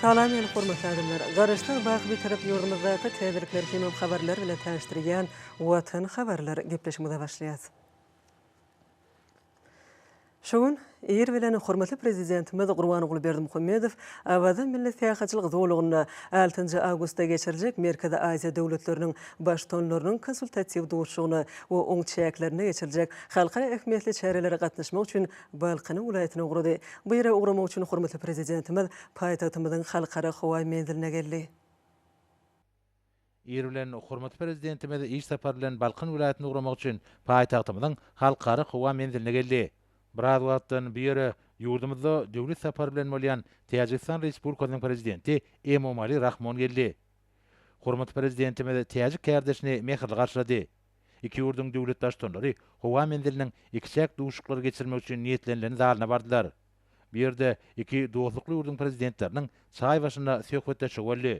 Salam meni hormatly adamlar! Garaşsyz wagt bitirip ýurdumyzdaky täzelikler hemem habarlar bilen tanyşdyrýan Watan habarlar gepleşimize başlaýas. Şu gün ir bilen hormatly Prezidentimiz Gurbanguly Berdimuhamedow Awaza milli syýahatçylyk zolagynda altynjy awgustda geçiriljek Merkezi Aziýa döwletleriniň Baştutanlarynyň konsultatiw duşuşygyna we oň çäklerinde geçiriljek halkara ähmiýetli çärelere gatnaşmak üçin Balkanyň welaýatyna ugrady. Bu ýere ugramak üçin hormatly Prezidentimiz paýtagtymyzyň Halkara howa menziline geldi. Ir bilen hormatly Prezidentimiz iş sapary bilen Balkan welaýatyna ugramak üçin paýtagtymyzyň Halkara howa menziline geldi. Biraz wagtdan bu ýere ýurdumyzda döwlet sapary bilen bolýan Täjigistan Respublikasynyň Prezidenti Emomali Rahmon geldi. Hormatly Prezidentimiz täjik kärdeşini mähirli garşylady. Iki ýurduň döwlet baştutanlary howa menziliniň ikiçäk duşuşyklary geçirmek üçin niýetlenilen zalyna bardylar. Bu ýerde iki dostlukly ýurduň prezidentleriniň çaý başynda söhbetdeşligi boldy.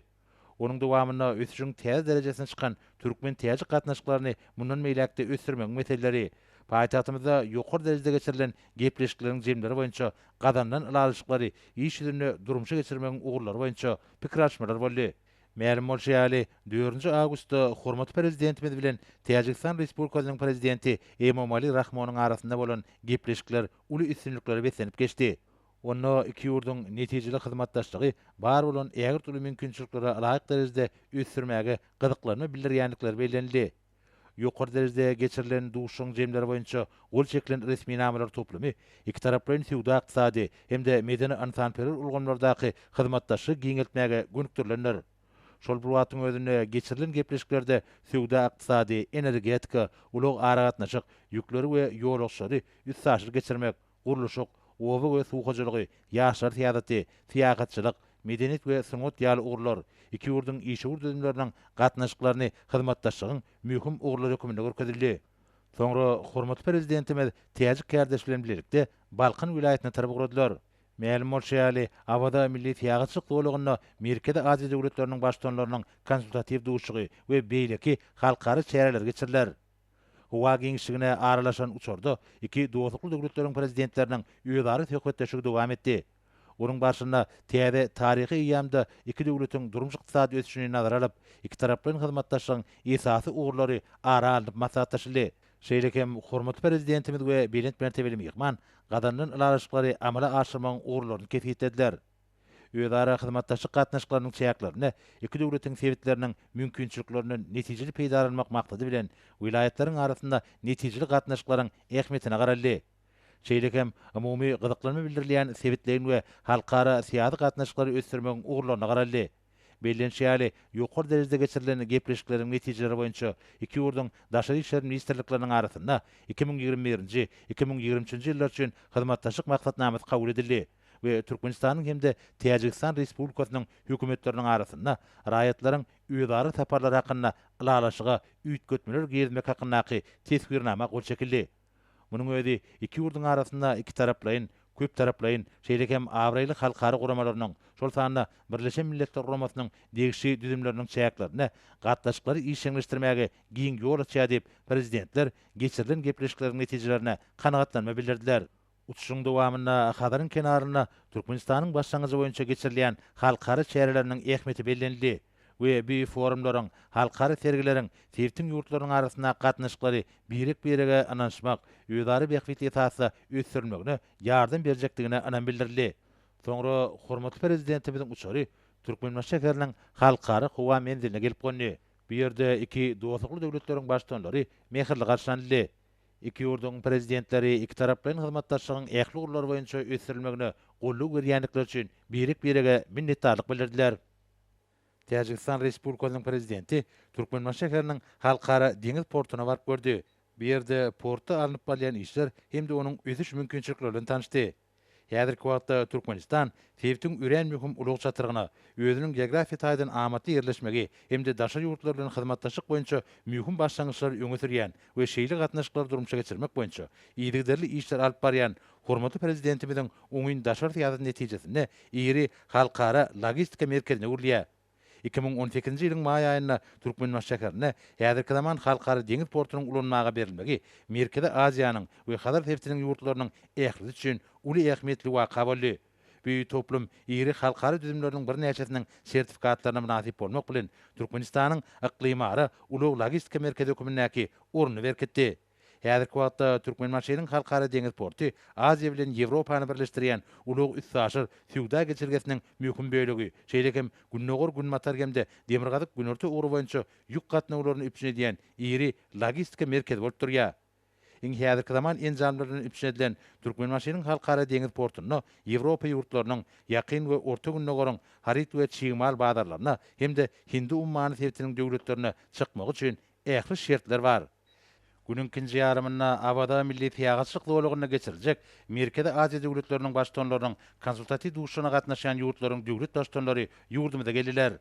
Onuň dowamynda ösüşiň täze derejesine çykan türkmen-täjik gatnaşyklaryny mundan beýläk-de ösdürmegiň meseleleri, paýtagtymyzda ýokary derejede geçirilen gepleşikleriň jemleri boýunça gazanylan ylalaşyklary iş ýüzünde durmuşa geçirmegiň ugurlary boýunça pikir alyşmalar boldy. Mälim bolşy ýaly, dördünji awgustda hormatly Prezidentimiz bilen Täjigistan Respublikasynyň Prezidenti Emomali Rahmonyň arasynda bolan gepleşikler uly üstünliklere beslenip geçdi. Onda iki ýurduň netijeli hyzmatdaşlygy bar bolan ägirt uly mümkinçilikleri laýyk derejede ösdürmäge gyzyklanma bildirýändikleri bellenildi. Ýokary derejede geçirilen duşuşygyň jemleri boýunça gol çekilen resminamalar toplumy ikitaraplaýyn söwda-ykdysady hem-de medeni-ynsanperwer ulgamlardaky hyzmatdaşlygy giňeltmäge gönükdirilendir. Şol bir wagtyň özünde geçirilen gepleşiklerde söwda-ykdysady, energetika, ulag-aragatnaşyk, ýükleri we ýolagçylary üstaşyr geçirmek, gurluşyk, oba we suw hojalygy, ýaşlar syýasaty, syýahatçylyk, medeniýet we sungat ýaly ugurlar iki ýurduň işewür düzümleriniň gatnaşyklaryny hyzmatdaşlygyň möhüm ugurlary hökmünde görkezildi. Soňra hormatly Prezidentimiz täjik kärdeşi bilen bilelikde Balkan welaýatyna tarap ugradylar. Mälim bolşy ýaly, Awaza milli syýahatçylyk zolagynda Merkezi Aziýa döwletleriniň Baştutanlarynyň konsultatiw duşuşygy we beýleki halkara çäreleri geçiriler. Howa giňişligine aralaşan uçarda iki dostlukly döwletleriň Prezidentleriniň özara söhbetdeşligi dowam etdi. Onuň barşynda täze taryhy eýýamda iki döwletiň durmuş-ykdysady ösüşini nazara alyp, ikitaraplaýyn hyzmatdaşlygyň esasy ugurlary ara alnyp maslahatlaşyldy. Şeýle hem hormatly Prezidentimiz we belent mertebeli myhman gazanylan ylalaşyklary amala aşyrmagyň ugurlaryny kesgitlediler. özara hyzmatdaşlyk gatnaşyklarynyň çäklerinde iki döwletiň sebitleriniň mümkinçiliklerinden netijeli peýdalanmak maksady bilen, welaýatlaryň arasynda netijeli gatnaşyklaryň ähmiýetine garaldy. Şeýle hem umumy gyzyklanma bildirilýän sebitleýin we halkara syýasy gatnaşyklary ösdürmegiň ugurlaryna garaldy. Bellenişi ýaly, ýokary derejede geçirilen gepleşikleriň netijeleri boýunça iki ýurduň Daşary işler ministrlikleriniň arasynda iki müň ýigrimi birinji, iki müň ýigrimi üçünji ýyllar üçin hyzmatdaşlyk maksatnamasy kabul edildi we Türkmenistanyň hem-de Täjigistan Respublikasynyň Hökümetleriniň arasynda raýatlaryň özara saparlary hakynda Ylalaşyga üýtgetmeler girizmek hakyndaky Teswirnama gol çekildi. Munuň özi iki ýurduň arasynda ikitaraplaýyn, köptaraplaýyn, şeýle hem abraýly halkara guramalarynyň, şol sanda Birleşen Milletler Guramasynyň degişli düzümleriniň çäklerinde gatnaşyklary işjeňleşdirmäge giň ýol açýar diýip, Prezidentler geçirilen gepleşikleriň netijelerine kanagatlanma bildirdiler. Uçuşyň dowamynda Hazaryň kenarynda Türkmenistanyň başlangyjy boýunça geçirilýän halkara çäreleriniň ähmiýeti bellenildi we bu forumlaryň, halkara sergileriň sebitiň ýurtlarynyň arasyndaky gatnaşyklary birek-birege ynanyşmak, özara bähbit esasda ösdürilmegine ýardam berjekdigine ynam bildirildi. Soňra hormatly Prezidentimiziň uçary Türkmenbaşy şäheriniň Halkara howa menziline gelip gondy. Bu ýerde iki dostlukly döwletleriň Baştutanlary mähirli garşylanyldy. Iki ýurduň Prezidentleri ikitaraplaýyn hyzmatdaşlygyň ähli ugurlary boýunça ösdürilmegine goldaw berýändikleri üçin birek-birege minnetdarlyk bildirdiler. Täjigistan Respublikasynyň Prezidenti Türkmenbaşy şäheriniň Halkara deňiz portuna baryp gördi, bu ýerde portda alnyp barylýan işler hem-de onuň ösüş mümkinçilikleri bilen tanyşdy. Häzirki wagtda Türkmenistan sebitiň örän möhüm ulag çatrygyna, özüniň geografiýa taýdan amatly ýerleşmegi hem-de daşary ýurtlar bilen hyzmatdaşlyk boýunça möhüm başlangyçlary öňe sürýän we şeýle gatnaşyklary durmuşa geçirmek boýunça yzygiderli işler alyp barýan hormatly Prezidentimiziň oňyn daşary syýasaty netijesinde iri halkara logistika merkezine öwrülýär. Iki müň on sekizinji ýylyň maý aýynda Türkmenbaşy şäherinde häzirki zaman Halkara deňiz portunyň ulanmaga berilmegi Merkezi Aziýanyň we Hazar sebitiniň ýurtlarynyň ählisi üçin uly ähmiýetli waka boldy. Bu toplum iri halkara düzümleriniň birnäçesiniň sertifikatlaryna mynasyp bolmak bilen, Türkmenistanyň yklymara ulag-logistika merkezi hökmündäki ornuny berkitdi. Häzirki wagtda Türkmenbaşynyň Halkara deňiz porty Aziýa bilen Ýewropany birleşdirýän ulag-üstaşyr söwda geçelgesiniň möhüm bölegi, şeýle hem gündogar-günbatar hem-de demirgazyk-günorta ugry boýunça ýük gatnawlaryny üpjün edýän iri logistika merkezi bolup durýar. Iň häzirki zaman enjamlar bilen üpjün edilen Türkmenbaşynyň Halkara deňiz portunda Ýewropa ýurtlarynyň, Ýakyn we Orta Gündogaryň haryt we çig mal bazarlaryna hem-de Hindi ummany sebitiniň döwletlerine çykmagy üçin ähli şertler bar. Günüň ikinji ýarymynda Awada milli syýahatçylyk zolagynda geçiriljek Merkezi Aziýa döwletleriniň Baştutanlarynyň konsultatiw duşuşygyna gatnaşýan ýurtlaryň döwlet Baştutanlary ýurdumyza geldiler.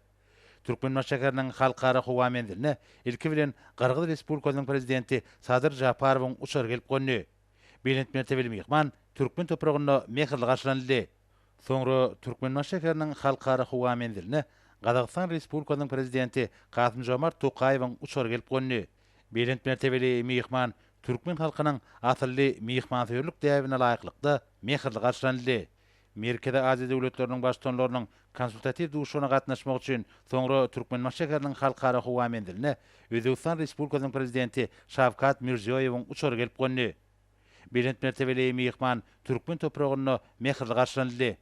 Türkmenbaşy şäheriniň Halkara howa menziline ilki bilen Gyrgyz Respublikasynyň Prezidenti Sadyr Žaparowyň uçary gelip gondy. Belent mertebeli myhman türkmen topragynda mähirli garşylanyldy. Soňra Türkmenbaşy şäheriniň Halkara howa menziline Gazagystan Respublikasynyň Prezidenti Kasym-Žomart Tokaýewiň uçary gelip gondy. Belent mertebeli myhman türkmen halkynyň asylly myhmansöýerlik däbine laýyklykda mähirli garşylanyldy. Merkezi Aziýa döwletleriniň Baştutanlarynyň konsultatiw duşuşygyna gatnaşmak üçin soňra Türkmenbaşy şäheriniň Halkara howa menziline Özbegistan Respublikasynyň Prezidenti Şawkat Mirziýoýewiň uçary gelip gondy. Belent mertebeli myhman türkmen topragynda mähirli garşylanyldy.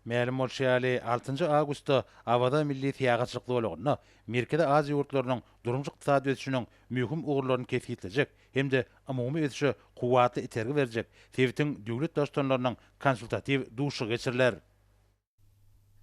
Mälim bolşy ýaly, altynjy awgustda Awaza milli syýahatçylyk zolagynda Merkezi Aziýa ýurtlarynyň durmuş-ykdysady ösüşiniň möhüm ugurlaryny kesgitlejek hem-de umumy ösüşe kuwwatly itergi berjek sebitiň döwlet daştutanlarynyň konsultatiw duşuşygy geçiriler.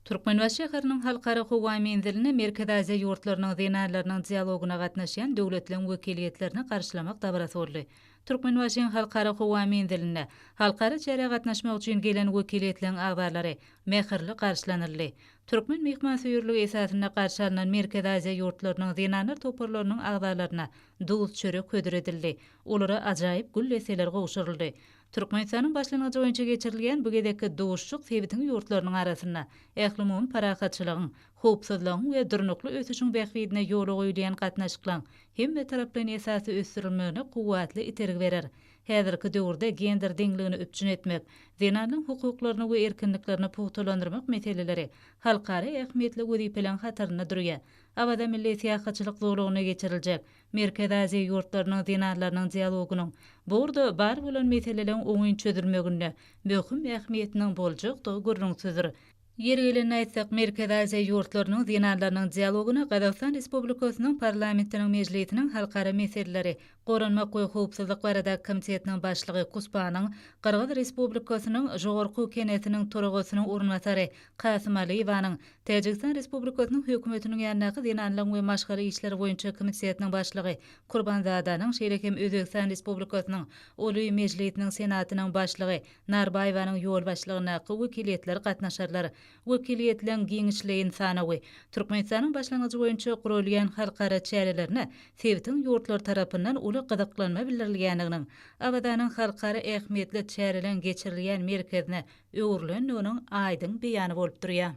Türkmenbaşy şäheriniň Halkara howa menzilinde Merkezi Aziýa ýurtlarynyň zenanlarynyň dialogyna gatnaşýan döwletleriň wekiliýetlerini garşylamak dabarasy boldy. Türkmenbaşyň Halkara howa menzilinde halkara çärä gatnaşmak üçin gelen wekiliýetleriň agzalary mähirli garşylanyldy. Türkmen myhmansöýerligi esasynda garşy alnan Merkezi Aziýa ýurtlarynyň zenanlar toparlarynyň agzalaryna Duz, çörek hödür edildi. Olara ajaýyp gül desseleri gowşuryldy. Türkmenistanyň başlangyjy boýunça geçirilýän bu gezekki duşuşyk sebitiň ýurtlarynyň arasynda ählumumy parahatçylygyň, howpsuzlygyň we durnukly ösüşiň bähbidine ýola goýulýan gatnaşyklaryň hemmetaraplaýyn esasda ösdürilmegine kuwwatly itergi berer. Häzirki döwürde gender deňligini üpjün etmek, zenanlaryň hukuklaryny we erkinliklerini pugtalandyrmak meseleleri halkara ähmiýetli wezipeleriň hatarynda durýar. Awaza milli syýahatçylyk zolagynda geçiriljek Merkezi Aziýa ýurtlarynyň zenanlarynyň dialogynyň bu ugurda bar bolan meseleleriň oňyn çözülmeginde möhüm ähmiýetiniň boljakdygy gürrüňsizdir. Ýeri gelende aýtsak, Merkezi Aziýa ýurtlarynyň zenanlarynyň dialogyna Gazagystan Respublikasynyň Parlamentiniň Mejlisiniň Halkara meseleleri, goranmak we howpsuzlyk baradaky komitetiniň başlygy Kuspanyň, Gyrgyz Respublikasynyň Žogorku Kenesiniň toragasynyň orunbasary Kasym Alyýewanyň, Täjigistan Respublikasynyň Hökümetiniň ýanyndaky Zenanlaryň we maşgala işleri boýunça komitetiniň başlygy Kurbanzadanyň, şeýle hem Özbegistan Respublikasynyň Oly Mejlisiniň Senatynyň başlygy Narbaýewanyň ýolbaşçylygyndaky wekiliýetler gatnaşarlar. Wekiliýetleriň giňişleýin sanawy Türkmenistanyň başlangyjy boýunça guralýan halkara çärelerine sebitiň ýurtlary tarapyndan uly gyzyklanma bildirilýändiginiň, Awazanyň halkara ähmiýetli çäreleriň geçirilýän merkezine öwrülendiginiň aýdyň beýany bolup durýar.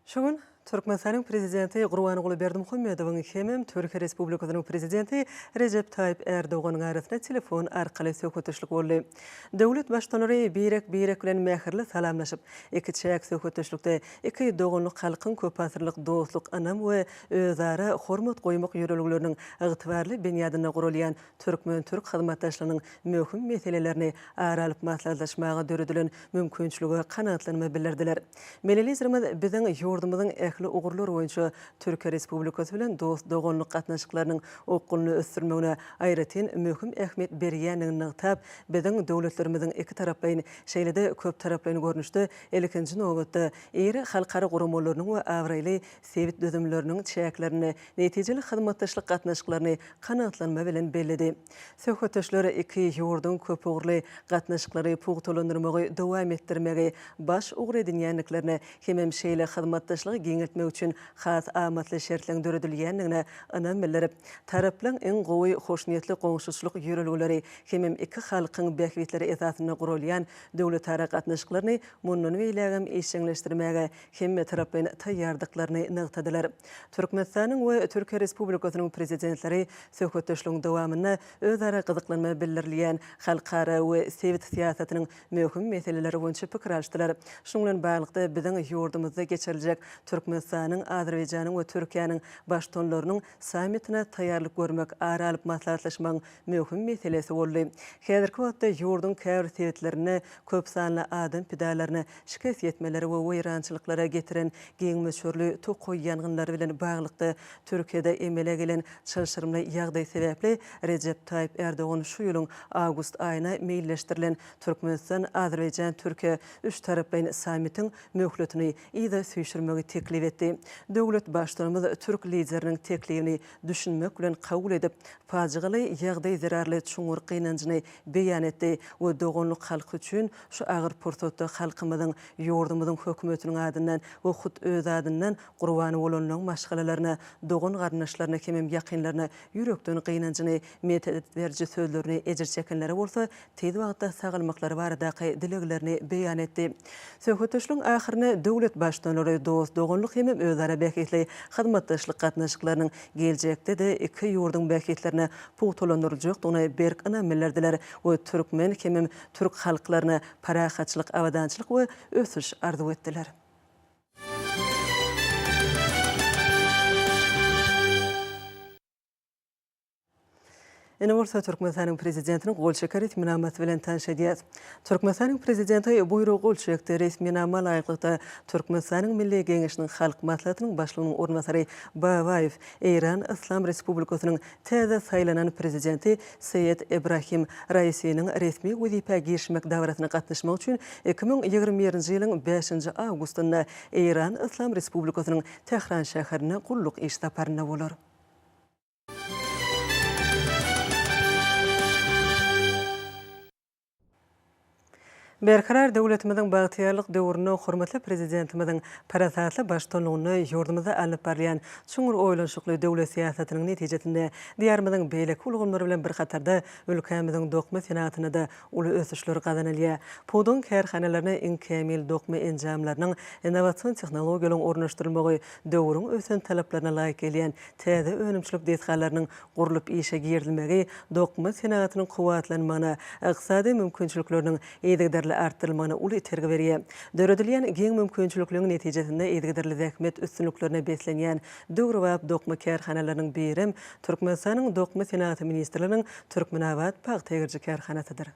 Şu gün Türkmenistanyň Prezidenti Gurbanguly Berdimuhamedowyň hemem Türkiýe Respublikasynyň Prezidenti Rejep Taýyp Ärdoganyň arasynda telefon arkaly söhbetdeşlik boldy. Döwlet Baştutanlary birek-birek bilen mähirli salamlaşyp, ikiçäk söhbetdeşlikde iki doganlyk halkyň köpasyrlyk dostluk, ynam we özara hormat goýmak ýörelgeleriniň ygtybarly binýadynda guralýan türkmen-türk hyzmatdaşlygynyň möhüm meselelerini ara alyp maslahatlaşmaga döredilen mümkinçilige kanagatlanma bildirdiler. Milli Liderimiz biziň ýurdumyzyň ähli ugurlar boýunça Türkiýe Respublikasy bilen dost-doganlyk gatnaşyklarynyň okgunly ösdürilmegine aýratyn möhüm ähmiýet berýändigini nygtap, biziň döwletlerimiziň ikitaraplaýyn, şeýle-de köptaraplaýyn görnüşde, ilkinji nobatda, iri halkara guramalarynyň we abraýly sebit düzümleriniň çäklerinde netijeli hyzmatdaşlyk gatnaşyklaryny kanagatlanma bilen belledi. Söhbetdeşler iki ýurduň köpugurly gatnaşyklary pugtalandyrmagy dowam etdirmegi baş ugur edinýändiklerine hemem şeýle hyzmatdaşlygy giňeltmek üçin has amatly şertleň döredilýändigine ynam bildirip, taraplaryň iň gowy hoşniýetli goňşuçylyk ýörelgeleri hemem iki halkyň bähbitleri esasynda guralýan döwletara gatnaşyklaryny mundan beýlägem işjeňleşdirmäge hemmetaraplaýyn taýýardyklaryny nygtadylar. Türkmenistanyň we Türkiýe Respublikasynyň Prezidentleri söhbetdeşligiň dowamynda özara gyzyklanma bildirilýän halkara we sebit syýasatynyň möhüm meseleleri boýunça pikir alşdylar. Şunuň bilen baglylykda, biziň ýurdumyzda geçiriljek Türkmenistanyň, Azerbaýjanyň we Türkiýäniň Baştutanlarynyň sammitine taýýarlyk görmek ara alyp maslahatlaşmagyň möhüm meselesi boldy. Häzirki wagtda ýurduň käbir sebitlerinde köp sanly adam pidalaryna şikes ýetmelere we weýrançylyklara getiren giň möçberli tokaý ýangynlary bilen baglylykda Türkiýede emele gelen çylşyrymly ýagdaý sebäpli Rejep Taýyp Erdogan şu ýylyň awgust aýyna meýilleşdirilen Türkmenistan-Azerbaýjan-Türkiýe üçtaraplaýyn sammitiň möhletini yza süýşürmegi teklip etdi. Döwlet Baştutanymyz türk Lideriniň teklibini düşünmek bilen kabul edip, pajygaly ýagdaý zerarly çuňňur gynanjyny beýan etdi we doganlyk halky üçin şu agyr pursatda halkymyzyň, ýurdumyzyň Hökümetiniň adyndan we hut özi adyndan gurban bolanlaryň maşgalalaryna, dogan-garyndaşlaryna hemem ýakynlaryna ýürekden gynanjyny, medet beriji sözlerini ejir çekenlere bolsa tiz wagtda sagalmaklary baradaky dileglerini beýan etdi. Söhbetdeşligiň ahyrynda döwlet Baştutanlary dost-doganlyk hem özara bähbitli hyzmatdaşlyk gatnaşyklarynyň geljekde-de iki ýurduň bähbitlerini pugtalandyryljakdygyna berk ynam bildirdiler we türkmen hem türk halklaryna parahatçylyk, abadançylyk we ösüş arzuw etdiler. Indi bolsa Türkmenistanyň Prezidentiniň gol çeken resminamasy bilen tanyş edýäs. Türkmenistanyň Prezidenti buýrugy gol çekdi. Resminama laýyklykda, Türkmenistanyň Milli Geňeşiniň Halk Maslahatynyň Başlygynyň orunbasary Babaýew Eýran Yslam Respublikasynyň täze saýlanan Prezidenti Seýed Ebrahim Raisiniň resmi wezipä girişmek dabarasyna gatnaşmak üçin iki müň ýigrimi birinji ýylyň bäşinji awgustynda Eýran Yslam Respublikasynyň Tähran şäherine gulluk iş saparynda bolar. Berkarar döwletimiziň bagtyýarlyk döwründe hormatly Prezidentimiziň parasatly baştutanlygynda ýurdumyzda alnyp barylýan çuňňur oýlanyşykly döwlet syýasatynyň netijesinde Diýarymyzyň beýleki ulgamlary bilen bir hatarda ülkämiziň dokma senagatyna-da uly ösüşler gazanylýar. Pudagyň kärhanalaryna iň kämil dokma enjamlarynyň, innowasion tehnologiýalaryň ornaşdyrylmagy döwrüň ösen talaplaryna laýyk gelýän täze önümçilik desgalarynyň gurlup işe girizilmegi dokma senagatynyň kuwwatlanmagyna, ykdysady mümkinçilikleriniň yzygiderli artdyrylmagyna uly itergi berýär. Döredilýän giň mümkinçilikleriň netijesinde yzygiderli zähmet üstünliklerine beslenýän döwrebap dokma kärhanalarynyň birem Türkmenistanyň Dokma senagaty ministrliginiň Türkmenabat pagta egiriji kärhanasydyr.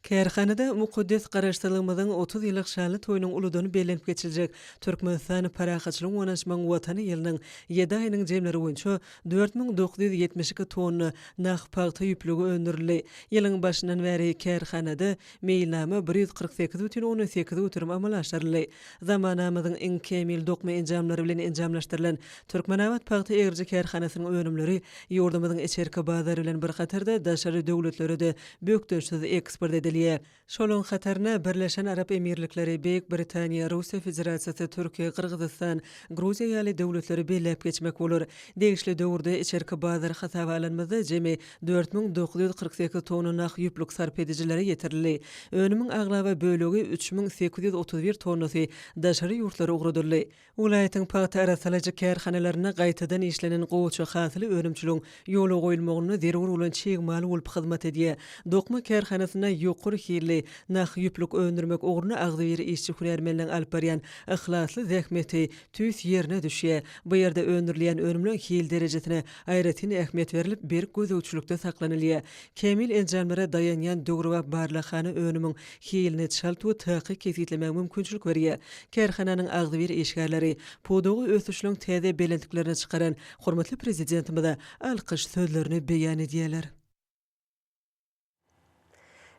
Kärhanada mukaddes Garaşsyzlygymyzyň otuz ýyllyk şanly toýunyň uludan bellenip geçiljek Türkmenistan parahatçylygyň gonançmagyň Watany ýylynyň ýedi aýynyň jemleri boýunça dört müň dokuz ýüz ýetmiş iki tonna nah pagta ýüplügi öndürildi. Ýylyň başyndan bäri kärhanada meýilnama bir ýüz kyrk sekiz bütin ondan sekiz göterim amala aşyryldy. Zamanamyzyň iň kämil dokma enjamlary bilen enjamlaşdyrylan Türkmenabat pagta egiriji kärhanasynyň önümleri ýurdumyzyň içerki bazary bilen bir hatarda daşary döwletlere-de bökdençsiz eksport edilýär. Şolaryň hataryna Birleşen Arap Emirlikleri, Beýik Britaniýa, Russiýa Federasiýasy, Türkiýe, Gyrgyzystan, Gruziýa ýaly döwletleri belläp geçmek bolar. Degişli döwürde içerki bazar hasaba alanymyzda jemi Dört müň dokuz ýüz kyrk sekiz tonna nah ýüplük sarp edijilere ýetirildi. Önümiň aglaba bölegi, üç müň sekiz ýüz otuz bir tonnasy, daşary ýurtlara ugradyldy. Welaýatyň pagta arassalaýjy kärhanalarynda gaýtadan işlenen gowaça hasyly önümçiligiň ýola goýulmagynda zerur bolan çig mal bolup hyzmat edýär. Dokma kärhanasynda ýokary hilli nah ýüplük öndürmek ugrunda agzybir işçi-hünärmenleň alyp barýan yhlasly zähmeti Tüýs ýerine düşýär. Bu ýerde öndürilýän önümleň hil derejesine aýratyn ähmiýet berlip, berk gözegçilikde saklanylýar. Kämil enjamlara daýanýan döwrebap barlaghana önümiň hilini çalt we takyk kesgitlemäge mümkinçilik berýär. Kärhananyň agzybir işgärleri, pudagy ösüşiniň täze belentliklerine çykaran hormatly Prezidentimize alkyş sözlerini beýan edýärler.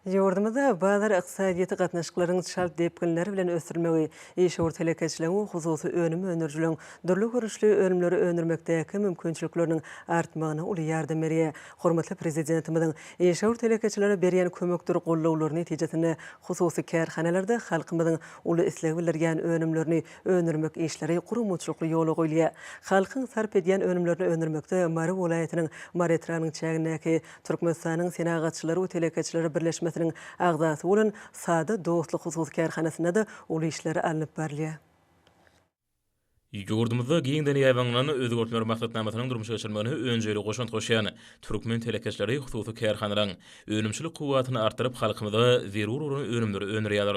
Ýurdumyzda bazar ykdysadyýeti gatnaşyklarynyň çalt depginler bilen ösdürmegi, işewür telekeçiligiň we hususy önüm öndürijiligiň dürli görnüşli önümleri öndürmekdäki mümkinçilikleriniň artmagyna uly ýardam berýär. Hormatly Prezidentimiziň işewür telekeçilere berýän kömekdir gollawlary netijesinde hususy kärhanalarda halkymyzyň uly isleg bildirýän önümlerini öndürmek işleri guramaçylykly ýola goýulýar. Halkyň sarp edýän önümlerini öndürmekde Mary welaýatynyň Mary etrabynyň çägindäki Türkmenistanyň Senagatçylary we telekeçileri birleşmesiniň agzasy bolan Sada dostluk hususy kärhanasynda-da uly işler alnyp barylýar. Ýurdumyzda giňden ýaýbaňlan Özgertmeler maksatnamasynyň durmuşa geçirilmegine önjeýli goşant goşýan Türkmen telekeçileri hususy kärhanalaryň önümçilik kuwwatyny artdyryp, halkymyza zerur bolan önümleri öndürýärler.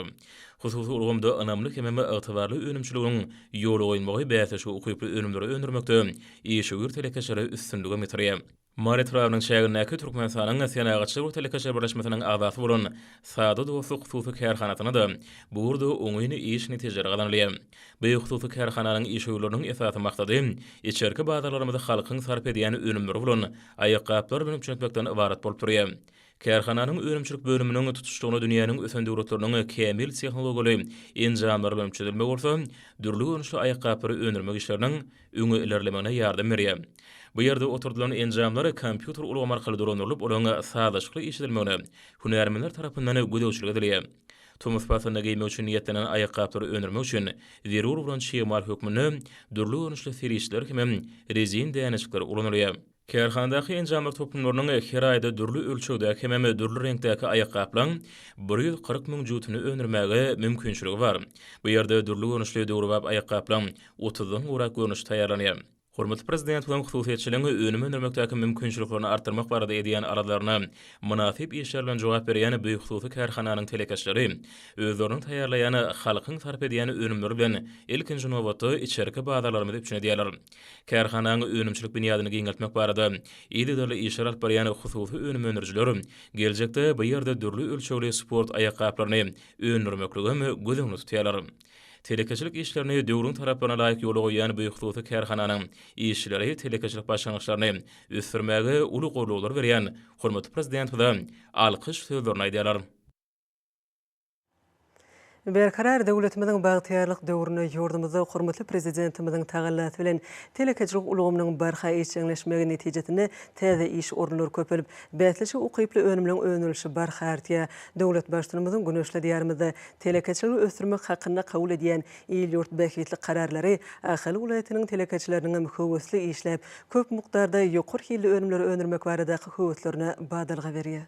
Hususy ulgamda ynamly hemem ygtybarly önümçiligiň ýola goýulmagy bäsleşige ukyply önümleri öndürmekde işewür telekeçilere üstünligem getirýär. Mary etrabynyň çägindäki Türkmenistanyň Senagatçylar we telekeçiler birleşmesiniň agzasy bolan Sada dostluk hususy kärhanasynda-da bu ugurda oňyn iş netijeleri gazanylýar. Bu hususy kärhananyň işewürleriniň esasy maksady içerki bazarlarymyzy halkyň sarp edýän önümleri bolan aýakgaplar bilen üpjün etmekden ybarat bolup durýar. Kärhananyň önümçilik bölüminiň tutuşlygyna dünýäniň ösen döwletleriniň kämil tehnologiýaly enjamlary bilen üpjün edilmegi bolsa dürli görnüşli aýakgaplary öndürmek işleriniň öňe ilerlemegine ýardam berýär. Bu ýerde oturdylan enjamlar kompýuter ulgamy arkaly dolandyrylyp, olaryň sazlaşykly işledilmegine hünärmenler tarapyndan gözegçilik edilýär. Tomus paslynda geýmek üçin niýetlenen aýakgaplary öndürmek üçin zerur bolan çig mal hökmünde dürli görnüşli serişdeler hemem rezin dänejikler ulanylýar. Kärhanadaky enjamlar toplumlarynyň her aýda dürli ölçegdäki hemem dürli reňkdäki aýakgaplaryň bir ýüz kyrk müň jübütini öndürmäge mümkinçiligi bar. Bu ýerde dürli görnüşli döwrebap aýakgaplaryň otuzdan gowrak görnüşi taýýarlanýar. Hormatly Prezidentimiziň hususyýetçiligiň önüm öndürmekdäki mümkinçiliklerini artdyrmak barada edýän arzalaryna mynasyp işler bilen jogap berýän bu hususy kärhananyň telekeçileri özleriniň taýýarlaýan, halkyň sarp edýän önümleri bilen ilkinji nobatda içerki bazarlarymyzy üpjün edýärler. Kärhananyň önümçilik binýadyny giňeltmek barada yzygiderli işler alyp barýan hususy önüm öndürijiler geljekde bu ýerde dürli ölçegli sport aýakgaplaryny öndürmeklige hem göz öňünde tutýarlar. Telekeçilik işlerini döwrüň talaplaryna laýyk ýola goýýan bu hususy kärhananyň işçileri telekeçilik başlangyçlaryny ösdürmäge uly goldaw berýän hormatly Prezidentimize alkyş sözlerini aýdýarlar. Berkarar döwletimiziň bagtyýarlyk döwründe ýurdumyzda hormatly Prezidentimiziň tagallasy bilen telekeçilik ulgamynyň barha işjeňleşmegi netijesinde täze iş orunlary köpelip, bäsleşige ukyply önümleň öndürilişi barha artýar. Döwlet Baştutanymyzyň güneşli Diýarymyzda telekeçiligi ösdürmek hakynda kabul edýän il-ýurt bähbitli kararlary Ahal welaýatynyň telekeçileriniňem höwesli işläp, köp mukdarda ýokary hilli önümleri öndürmek baradaky höweslerine badalga berýär.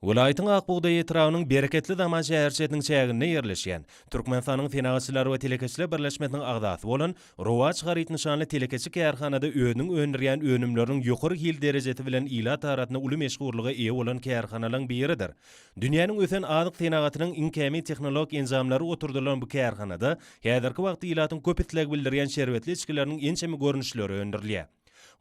Welaýatyň Ak bugdaý etrabynyň Bereketli zaman şäherçesiniň çäginde ýerleşýän, Türkmenistanyň Senagatçylar we telekeçiler birleşmesiniň agzasy bolan Rowaç haryt nyşanly telekeçi kärhanada özüniň öndürýän önümleriniň ýokary hil derejesi bilen ilat arasynda uly meşhurlyga eýe bolan kärhanalaryň biridir. Dünýäniň ösen azyk senagatynyň iň kämil tehnologik enjamlary oturdylan bu kärhanada häzirki wagtda ilatyň köp isleg bildirýän şerbetli içgileriniň ençeme görnüşleri öndürilýär.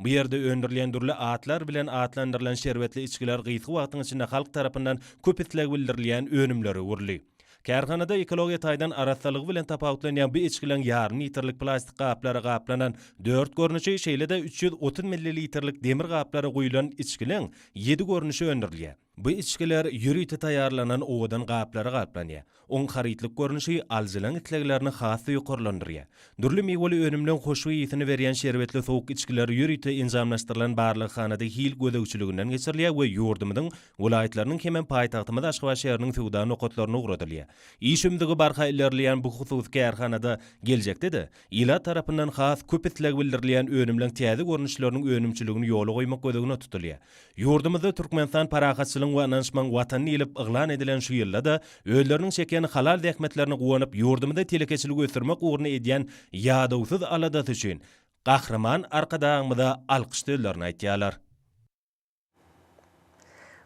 Bu ýerde öndürilýän dürli atlar bilen atlandyrylan şerbetli içgiler gysga wagtyň içinde halk tarapyndan köp isleg bildirilýän önümlere öwrüldi. Kärhanada ekologiýa taýdan arassalygy bilen tapawutlanýan bu içgileň ýarym litrlik plastik gaplara gaplanan dört görnüşi, şeýle-de üç ýüz otuz millilitrlik demir gaplara guýlan içgileň ýedi görnüşi öndürilýär. Bu içgiler ýörite taýýarlanan owadan gaplara gaplanýar. Oň harytlyk görnüşi alyjylaryň isleglerini has-da ýokarlandyrýar. Dürli miweli önümleň hoşboý ysy-ny berýän şerbetli sowuk içgiler ýörite enjamlaşdyrylan barlaghanada hil gözegçiliginden geçirilýär we ýurdumyzyň welaýatlarynyň hemem paýtagtymyz Aşgabat şäheriniň söwda nokatlaryna ugradylýar. Iş ümzügi barha ilerleýän bu hususy kärhanada geljekde-de Ilat tarapyndan has köp isleg bildirilýän önümleň täze görnüşleriniň önümçiligini ýola goýmak göz öňüne tutulýar. Ýurdumyzda Türkmenistan parahatçylygyň we ynanyşmagyň Watany diýlip yglan edilen şu ýylda-da özleriniň çeken halal zähmetlerine guwanyp, ýurdumyzda telekeçiligi ösdürmek ugrunda edýän ýadawsyz aladasy üçin Gahryman Arkadagymyza alkyş sözlerini aýtýarlar.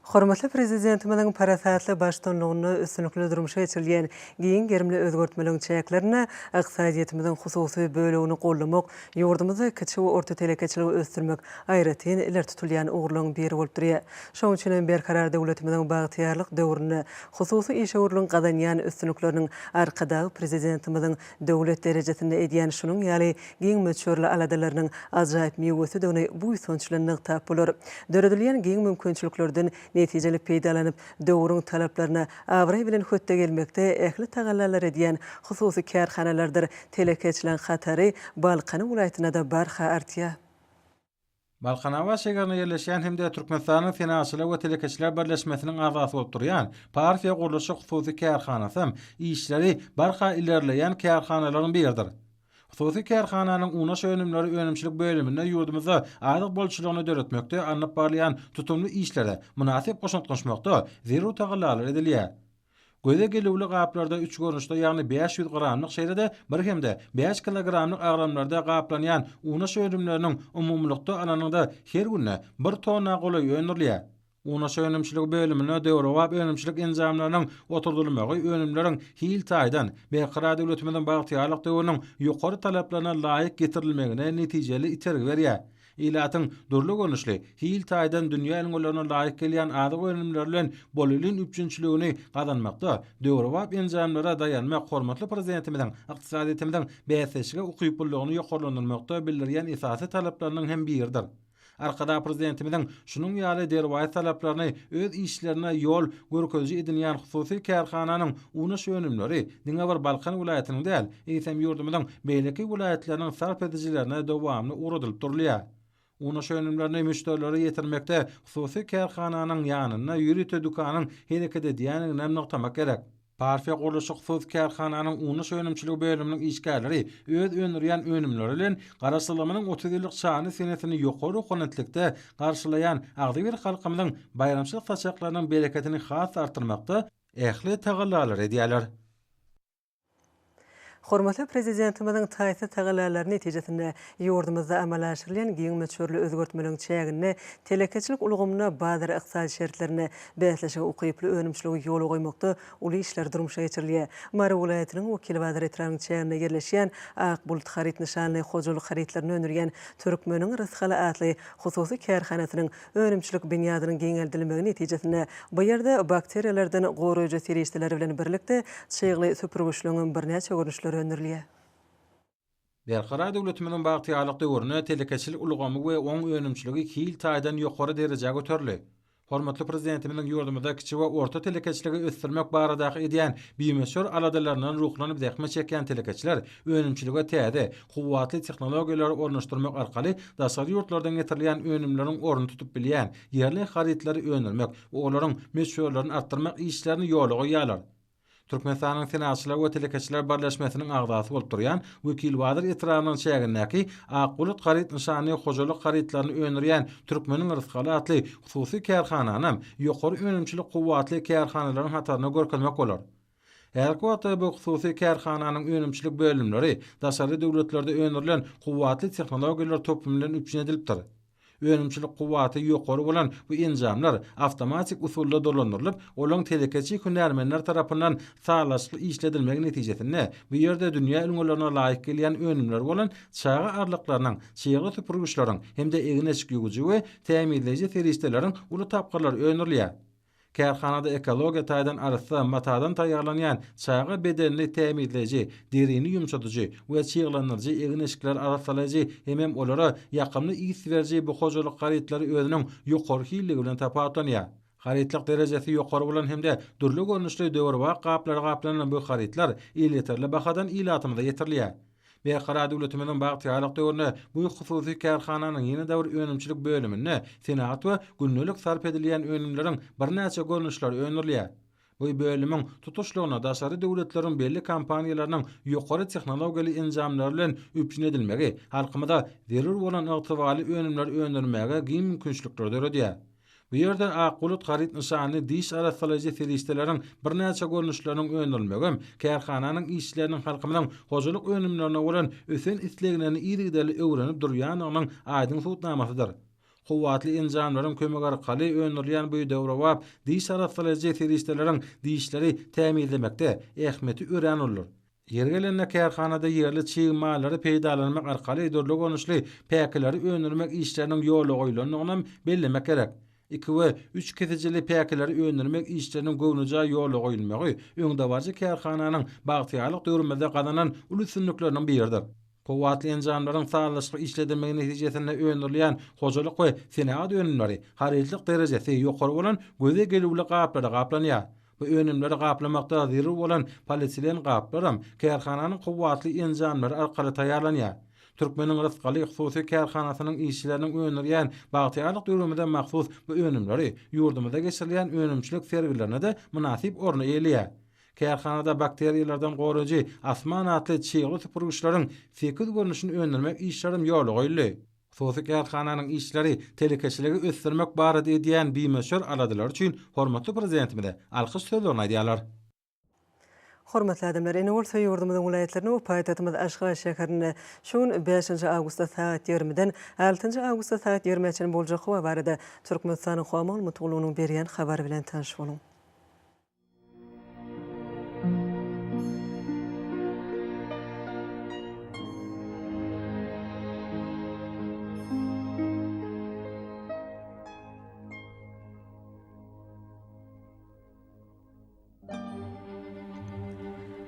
Hormatly Prezidentimiziň parasatly baştutanlygynda üstünlikli durmuşa geçirilýän giň gerimli özgertmeleriň çäklerinde ykdysadyýetimiziň hususy bölegini goldamak, ýurdumyzda kiçi we orta telekeçiligi ösdürmek aýratyn ileri tutulýan ugurlaryň biri bolup durýar. Şonuň üçin hem Berkarar döwletimiziň bagtyýarlyk döwründe hususy işewürligiň gazanýan üstünlikleriniň Arkadagly Prezidentimiziň Döwlet derejesinde edýän şunuň ýaly giň möçberli aladalarynyň ajaýyp miwesidigini buýsanç bilen nygtap bolar. Döredilýän giň mümkinçiliklerden netijeli peýdalanyp, döwrüň talaplaryna abraý bilen hötde gelmekde ähli tagallalary edýän hususy kärhanalardyr telekeçileriň hatary Balkan welaýatynda-da barha artýar. Balkanabat şäherinde ýerleşýän hem-de Türkmenistanyň Senagatçylar we telekeçiler birleşmesiniň agzasy bolup durýan Parfiýa gurluşyk hususy kärhanasam işleri barha ilerleýän kärhanalaryň biridir. Hususy kärhananyň unaş önümleri önümçilik bölüminde ýurdumyzda azyk bolçulygyny döretmekde alnyp barylýan tutumly işlere mynasyp goşant goşmakda zerur tagallalary edilýär. Göze gelüwli gaplarda üç görnüşde, ýagny bäş ýüz gramlyk, şeýle-de bir hem-de bäş kilogramlyk agramlarda gaplanýan unaş önümleriniň umumylykda alanyňda her günde bir tonna golaý öndürilýär. Unaş önümçiligi bölümine döwrebap önümçilik enjamlarynyň oturdylmagy önümleriň hil taýdan Berkarar döwletimiziň bagtyýarlyk döwrüniň ýokary talaplaryna laýyk getirilmegine netijeli itergi berýär. Ilatyň dürli görnüşli, hil taýdan dünýä ülňülerine laýyk gelýän azyk önümleri bilen bolelin üpjünçiligini gazanmakda döwrebap enjamlara daýanmak hormatly Prezidentimiziň ykdysadyýetimiziň bäsdeşlige ukyplylygyny ýokarlandyrmakda bildirýän esasy talaplarynyň hem biridir. Arkadag Prezidentimiziň şunuň ýaly derwaýys talaplaryny öz işlerine ýol görkeziji edinýän hususy kärhananyň Unaş önümleri diňe bir Balkan welaýatynyň däl, eýsem ýurdumyzyň beýleki welaýatlarynyň sarp edijilerine dowamly ugradylyp durulýar. Unaş önümlerini müşderilere ýetirmekde hususy kärhananyň ýanynda ýörite dükanyň hereket edýändiginem nygtamak gerek. Parfiýa gurluşyk hususy kärhananyň unaş önümçiligi bölüminiň işgärleri öz öndürýän önümleri bilen Garaşsyzlygymyzyň otuz ýyllyk şanly senesini ýokary ruhanitlikde garşylaýan agzybir halkymyzyň baýramçylyk saçaklarynyň bereketini has-da artdyrmakda, Ähli tagallalar edýärler. Hormatly Prezidentimiziň taýsyz tagallalary netijesinde, ýurdumyzda amala aşyrylýan giň möçberli özgertmeleriň çäginde telekeçilik ulgamynda bazar ykdysady şertlerinde bäsleşige ukyply önümçiligi ýola goýmakda uly işler durmuşa geçirilýär. Mary welaýatynyň Wekilbazar etrabynyň çäginde ýerleşýän Ak bulut haryt nyşanly hojalyk harytlaryny öndürýän Türkmeniň rysgaly atly hususy kärhanasynyň Önümçilik binýadynyň giňeldilmegi netijesinde bu ýerde bakteriýalardan goraýjy serişdeler bilen birlikde çygly süpürgiçligiňem birnäçe görnüşleri öndürilýär. Berkarar döwletimiziň bagtyýarlyk döwründe telekeçilik ulgamy we oň önümçiligi hil taýdan ýokary derejä göterildi. Hormatly Prezidentimiziň ýurdumyzda kiçi we orta telekeçiligi ösdürmek baradaky edýän bimöçber aladalaryndan ruhlanyp zähmet çekýän telekeçiler önümçilige täze, kuwwatly tehnologiýalary ornaşdyrmak arkaly daşary ýurtlardan getirilýän önümleriň ornuny tutup bilýän ýerli harytlary öndürmek we olaryň möçberlerini artdyrmak işlerini ýola goýýarlar. Türkmenistanyň Senagatçylar we telekeçiler birleşmesiniň agzasy bolup durýan Wekilbazar etrabynyň çägindäki Ak bulut haryt nyşanly hojalyk harytlaryny öndürýän Türkmeniň rysgaly atly hususy kärhananam ýokary önümçilik kuwwatly kärhanalaryň hataryna görkezmek bolar. Häzirki wagtda bu hususy kärhananyň önümçilik bölümleri daşary döwletlerde öndürilen kuwwatly tehnologiýalar toplum bilen üpjün edilipdir. Önümçilik kuwwaty ýokary bolan bu enjamlar awtomatik usulda dolandyrylyp, olaň telekeçi hünärmenler tarapyndan sazlaşykly işledilmegi netijesinde bu ýerde dünýä ülňülerine laýyk gelýän önümleri bolan çaga arlyklarynyň, çygly süpürgiçleriň hem-de egin-eşik ýuwujy we tämizleýji serişdeleriň uly tapgyrlary öndürilýär. Kärhanada ekologiýa taýdan arassa matadan taýýarlanýan çaga bedenini tämizleýji, derini ýumşadyjy we çyglandyryjy egin-eşikler arassalaýjy hemem olara ýakymly ys beriji bu hojalyk harytlary özüniň ýokary hilligi bilen tapawutlanýar. Harytlyk derejesi ýokary bolan hem-de dürli görnüşli döwrebap gaplara gaplanan bu harytlar elýeterli bahadan ilatymyza ýetirilýär. Berkarar döwletimiziň bagtyýarlyk döwründe bu hususy kärhananyň ýene-de bir önümçilik bölüminde senagat we gündelik sarp edilýän önümleriň birnäçe görnüşleri öndürilýär. Bu bölümiň tutuşlygyna daşary döwletleriň belli kompaniýalarynyň ýokary tehnologiýaly enjamlary bilen üpjün edilmegi halkymyza zerur bolan ygtybarly önümleri öndürmäge giň mümkinçilikleri döredýär. Bu ýerde Ak bulut haryt nyşanly diş arassalaýjy serişdeleriň birnäçe görnüşleriniň öndürilmegi kärhananyň işçileriniň halkymyzyň hojalyk önümlerine bolan ösen isleglerini yzygiderli öwrenip durýandygynyň aýdyň subutnamasydyr. Kuwwatly enjamlaryň kömegi arkaly öndürilýän bu döwrebap diş arassalaýjy serişdeleriň dişleri tämizlemekde ähmiýeti örän uludyr. Ýeri gelende kärhanada ýerli çig mallary peýdalanmak arkaly dürli görnüşli päkileri öndürmek işleriniň ýola goýlandygyny hem bellemek gerek. Iki we üç kesijili päkileri öndürmek işleriniň göwnejaý ýola goýulmagy öňdebaryjy kärhananyň bagtyýarlyk döwrümizde gazanan uly üstünlikleriniň biridir. Kuwwatly enjamlaryň sazlaşykly işledilmegi netijesinde öndürilýän hojalyk we senagat önümleri harytlyk derejesi ýokary bolan göze gelüwli gaplara gaplanýar. Bu önümleri gaplamakda zerur bolan polietilen gaplaram kärhananyň kuwwatly enjamlary arkaly taýýarlanýar. Türkmeniň Rysgaly hususy kärhanasynyň işçileriniň öndürýän Bagtyýarlyk döwrümize mahsus bu önümleri ýurdumyzda geçirilýän önümçilik sergilerine-de mynasyp orny eýeleýär. Kärhanada bakteriýalardan goraýjy Asman atly çygly süpürgiçleriň sekiz görnüşini öndürmek işlerem ýola goýuldy. Hususy kärhananyň işleri, telekeçiligi ösdürmek barada edýän bimöçber aladalary üçin hormatly Prezidentimize alkyş sözlerini aýdýarlar. Hormatly adamlar, ine bolsa ýurdumyzyň welaýatlaryna we paýtagtymyz Aşgabat şäherinde şu gün bäşinji awgustda sagat ýigrimiden altynjy awgustda sagat ýigrimä çenli boljak howa barada Türkmenistanyň Howa maglumat gullugynyň berýän habary bilen tanyş boluň.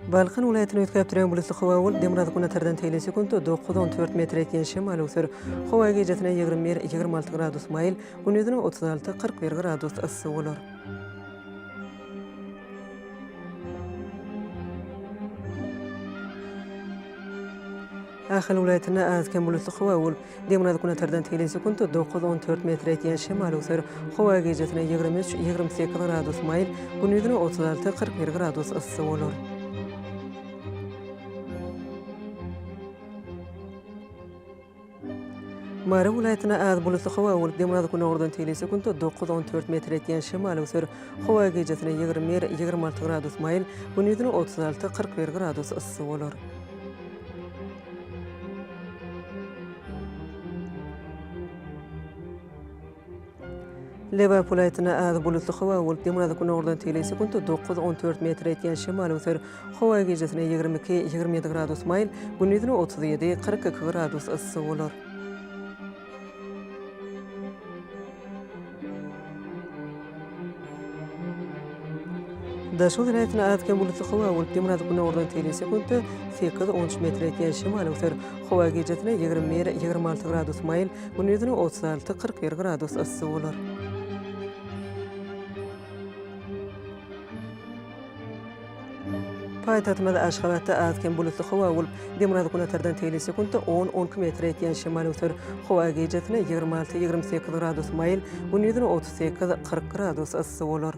Balkan welaýatyny üýtgäp duran bulutly howa bolup, demirgazyk günortadan teýin sekuntda dokuz, on dört metr ýetýän şemal öwser. Howa gijesine ýigrimi bir, ýigrimi alty gradus maýyl, gündizine otuz alty, kyrk bir gradus yssy bolar. Ahal welaýatynda az-kem bulutly howa bolup, demirgazyk-günortadan tegelek sekunta dokuz, on dört metr etýän şemal öwser. Howa gijasine ýigrimi üç, ýigrimi sekiz gradus maýyl, gündizine otuz alty, kyrk bir gradus yssy bolar. Mary welaýatyna az bulutly howa bolup, demirgazyk-gündogardan tegelýän sekuntda dokuz, on dört metr etýän şemal öwser. Howa gijesine ýigrimi bir, ýigrimi alty gradus maýyl, gündiziň otuz alty, kyrk bir gradus yssy bolar. Lebap welaýatynda az bulutly howa bolup, demirgazyk-günordan tegele sekuntda dokuz, on dört metr etýän şemal öser. Howa gijesine ýigrimi iki, ýigrimi ýedi gradus maýyl, gündizine otuz ýedi, kyrk iki gradus yssy bolar. Daşoguz welaýatynda az-kem bulutly howa bolup, demirgazyk günordan telin sekuntda sekiz, on üç metr ýetýän şemal öser. Howa gijesi ýigrimi bir, ýigrimi alty gradus maýyl, gündizine otuz alty, kyrk bir gradus yssy bolar. Paýtagtymyz Aşgabatda az-kem bulutly howa bolup, demirgazyk-günortadan teýli sekuntda on on iki metre ýetýän şemal öser. Howa gijesine ýigrimi alty, ýigrimi sekiz gradus maýyl, gündiziň otuz sekiz, kyrk gradus yssy bolar.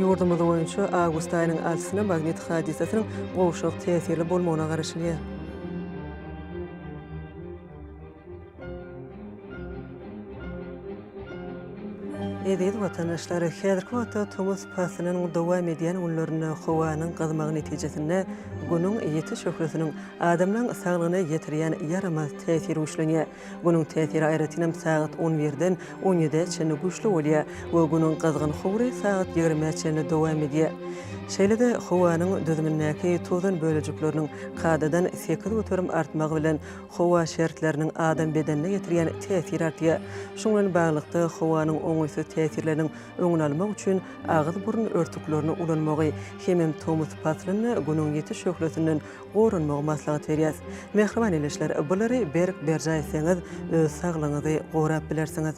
Ýurdumyz boýunça awgust aýynyň altysyna magnit hadysasynyň gowşak täsirli bolmagyna garaşylýar. Eziz watandaşlar, häzirki wagtda tomus paslynyň dowam edýän günlerinde howanyň gyzmagy netijesinde Günüň ýiti şöhlesiniň adamlaň saglygyna ýetirýän ýaramaz täsiri güýçlenýär. Günüň täsiri aýratynam sagat on birden on ýedä çenli güýçli bolýar we Günüň gyzgyn howry sagat ýigrimä çenli dowam edýär. Şeýle-de howanyň düzümindäki tozan bölejikleriniň kadadan sekiz göterim artmagy bilen Howa şertleriniň adam bedenine ýetirýän täsiri artýar. Şuň bilen baglylykda, howanyň oňaýsyz täsirleriniň öňüni almak üçin agyz-burun örtüklerini ulanmagy hemem tomus paslynda Günüň ýiti şöhlesinden goranmagy maslahat berýäs. Mähriban ildeşler, bulary berk berjaý etseňiz, öz saglygyňyzy gorap bilersiňiz.